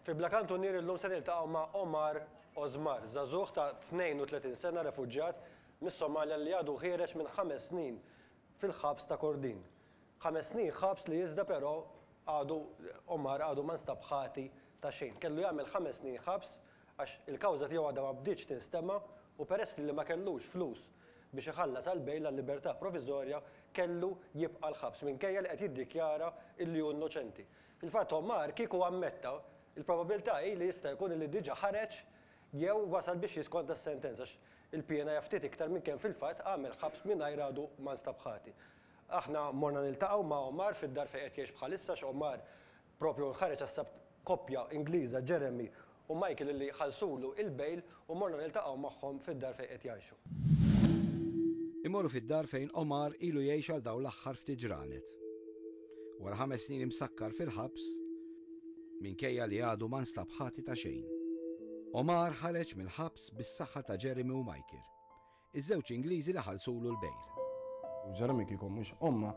Fi Bla Kantunier illum se niltaqgħu ma' Omar Osmar, żagħżugħ ta' 32 sena refuġjat mis-Somalja li għadu ħiereġ minn ħames snin fil-ħabs ta' Kordin. Ħames snin ħabs li iżda però għadu Omar għadu ma nstab ħati ta' xejn. Kellu jagħmel ħames snin ħabs għax il-kawża tiegħu għadha ma bdietx tinstema' u peress li ma kellux flus biex iħallas għal bail għal libertà proviżorja kellu jibqa' l-ħabs minkejja li qed jiddikjara illi hu innoċenti. Fil-fatt Omar kieku ammetta, il-probabilità hi li jista' jkun li diġà ħareġ jew wasal biex jiskonta s-sentenza għax il-piena hija ftit iktar minn kemm fil-fatt għamel ħabs mingħajr għadu ma nstab ħati. Aħna morna niltaqgħu ma' Omar fid-dar fejn qed jgħix bħalissa għax Omar proprju nħareġ għas-Sabt koppja Ingliża, Jeremy u Michael li ħallsulu l-bail u morna niltaqgħu magħhom fid-dar fejn qed jgħixu. Immorru fid-dar fejn Omar ilu jgħix għal dawn l-aħħar ftit ġranet. Wara ħames snin imsakkar fil-ħabs, minkejja li għadu ma nstab ħati ta' xejn. Omar ħareġ mill-ħabs bis-saħħa ta' Jeremy u Michael. Iż-żewġ Ingliżi li ħallsulu l-bejl. U Jeremy kieku mhux ommha,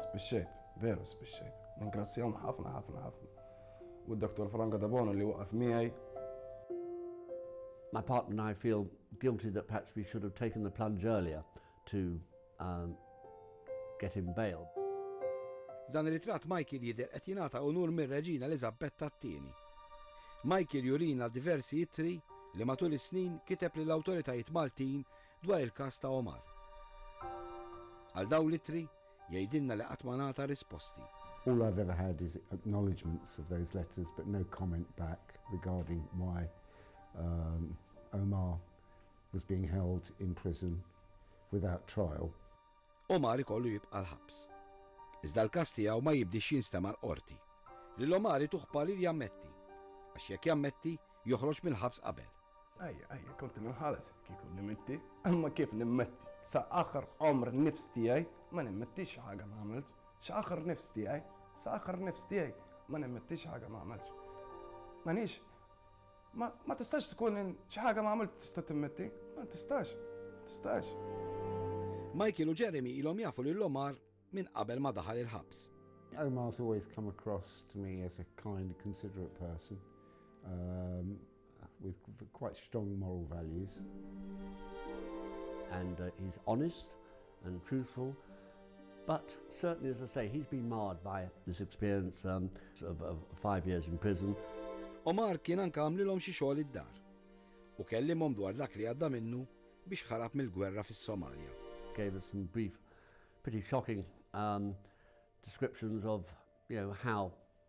spiċċajt, veru spiċċajt. Ningrazzjahom ħafna ħafna ħafna. U d-Dottor Franco Debono li waqaf miegħi. My partner and I feel guilty that perhaps we should have taken the plunge earlier. to get him bail. F'dan ir-ritratt Michael jidher qed jingħata unur mir-Reġina Eliżabbetta t-Tieni. Michael jurina diversi ittri li matul is-snin kiteb lill-awtoritajiet Maltin dwar il-każ ta' Omar. Għal dawn l-ittri, jgħidilna li qatt ma ngħata risposti. All I've ever had is acknowledgements of those letters but no comment back regarding why Omar was being held in prison without trial. Omar ikollu jibqa' l-ħabs. Iżda l-każ tiegħu ma jibdiex jinstema' l-Qorti. Lil Omar ituh parir jammetti, għax jekk jammetti, joħroġ mill-ħabs qabel. Ajja, ajja, kont nimħalas kieku nimmetti, imma kif nimmetti? Sa aħħar għomr nifs tiegħi ma nimmettix xi ħaġa ma għamiltx. Sa aħħar nifs tiegħi, sa aħħar nifs tiegħi ma nimmettix xi ħaġa ma għamiltx. M'għandix Ma, ma tistax tkun in, xi ħaga ma għamilt tista' timmetti. Ma tistax, ma tistax. Michael u Jeremy ilhom jafu lil Omar minn qabel ma daħal il-ħabs. Omar's always come across to me as a kind, considerate person um, with quite strong moral values. And uh, he's honest. and truthful but certainly as I say he's been marred by this experience um, of, of five years in prison. Omar kien anke għamlilhom xi xogħol id-dar u kellimhom dwar dak li għadda minnu biex ħarab mill-gwerra fis-Somalja. Gave us some brief, pretty shocking um, descriptions of you know, how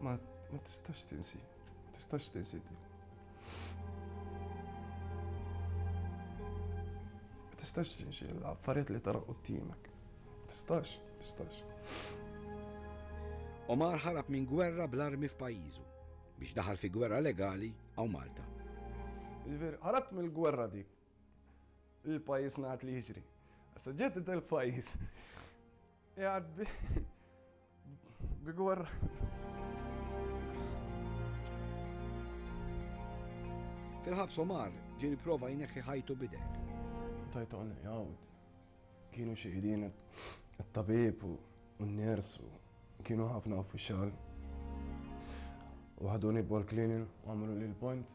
Ma ma tistax tinsi, ma tistax tinsi di. Ma tistax tinsi l-affarijiet li tara qudiemek. Ma tistax, ma tistax. Omar ħarab minn gwerra bl-armi f'pajjiżu biex daħal fi gwerra legali hawn Malta. Jiġifieri ħarabt mill-gwerra dik. Il-pajjiż ngħad li jiġri. Issa ġejt il-pajjiż. Qiegħed bi bi gorra. Fil-ħabs Omar ġieli prova jneħħi ħajtu bidek. Tajtu għanna jgħawd. Kienu xieħdin it-tabib u n-nersu. Kienu ħafna uffiċjal. U ħaduni bol klinin u għamlu li l-point.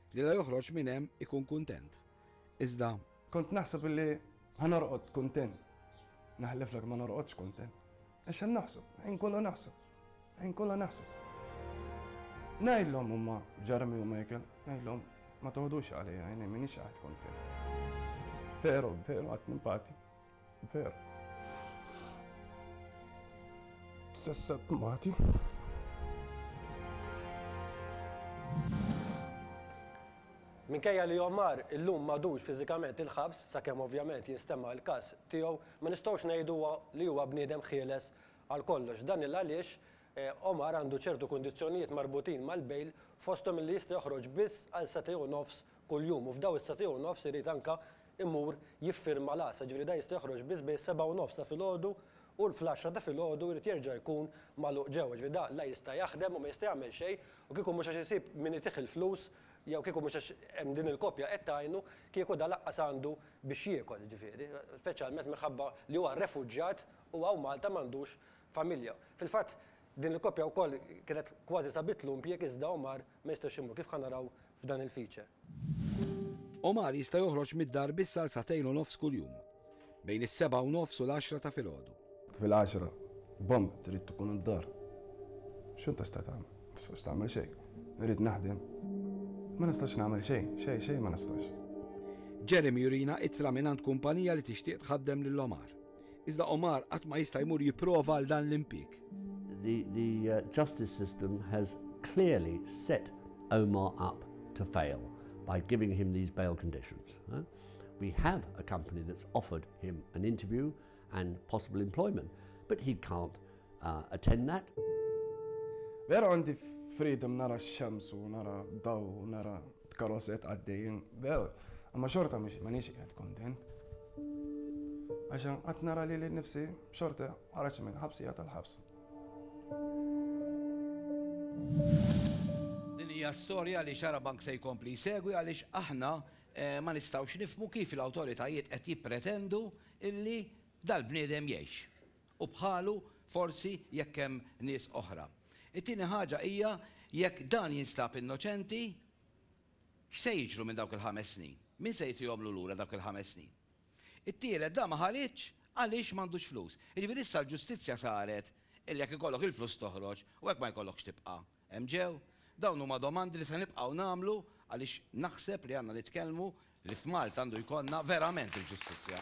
Li la joħroġ minn hemm ikun kuntent. Iżda. Kont naħseb illi ħa norqod kuntent. Naħliflek ma norqodx kuntent. Għax hemm naħseb, ħin kollu naħseb. Ħin kollu naħseb. Ngħidlhom huma Jeremy u Michael, ngħidlhom ma toħdux għalija, jien minix qagħad kuntent. Veru, veru qatt nimpati. Veru. Sessa t-mati. Minkejja li Omar illum madux fiżikament il-ħabs, sakemm ovvjament jinstema' l-każ tiegħu, ma nistgħux ngħidu li huwa bniedem ħieles għal kollox. Dan il għaliex eh, Omar għandu ċertu kundizzjonijiet marbutin mal-bejl fosthom li jista' joħroġ biss għal satej u nofs kuljum u f'daw is-satej u nofs irid anka imur jiffirma l-għassa, jiġifieri dan jista' joħroġ biss bejn is-sebgħa u nofs ta' filgħodu u fl-għaxra ta' filgħodu jrid jerġa' jkun magħluq ġewwa, jiġifieri dan la jista' jaħdem u ma jista' jagħmel xejn u kieku mhux għax isib min itih il-flus jew kieku mhux għax hemm din il-koppja qed tgħinu, kieku dan lanqas għandu biex jiekol, jiġifieri, speċjalment minħabba li huwa refuġjat u hawn Malta m'għandux familja. Fil-fatt din il-koppja wkoll kienet kważi sabitlu impjieg iżda Omar ma jistax imur, kif ħa naraw f'dan il-feature. Omar jista' joħroġ mid-dar biss għal sagħtejn u nofs kuljum, bejn is-sebgħa u nofs u l-għaxra ta' filgħodu. Fil-għaxra b'omm trid tkun id-dar. X'int tista' tagħmel? Ma tistax tagħmel xejn. Irrid naħdem. Ma nistax nagħmel xejn, xejn, xejn ma nistax. Jeremy jurina ittra mingħand kumpanija li tixtieq tħaddem lil Omar. Iżda Omar qatt ma jista' jmur jipprova għal dan l-impjieg. The, the uh, justice system has clearly set Omar up to fail by giving him these bail conditions. Huh? We have a company that's offered him an interview and possible employment, but he can't uh, attend that. Vera għandi freedom nara x-xemsu, nara daw, nara Karozet għaddejjin vew, imma xorta m'għadnix qiegħed kuntent. Għax qatt nara lili nnifsi xorta ħareġt minn ħabsija tal-ħabs. Din hija storja li Xarabank se jkompli jsegwi għaliex aħna ma nistgħux nifhmu kif l-awtoritajiet qed jippretendu illi dal-bniedem jgħix. u bħalu forsi jekk hemm nies oħra. It-tieni ħaġa hija jekk dan jinstab innoċenti, x'se jiġru minn dawk il-ħames snin? Min se jtihomlu lura dawk il-ħames snin? It-tielet dan ma ħaridx għaliex m'għandux flus. Jiġifieri issa l-ġustizzja saret illi jekk ikollok il-flus toħroġ u jekk ma jkollokx tibqa'. Hemm ġew? Dawn huma domandi li se nibqgħu nagħmlu għaliex naħseb li għandna nitkellmu li f'Malta għandu jkollna verament il-ġustizzja.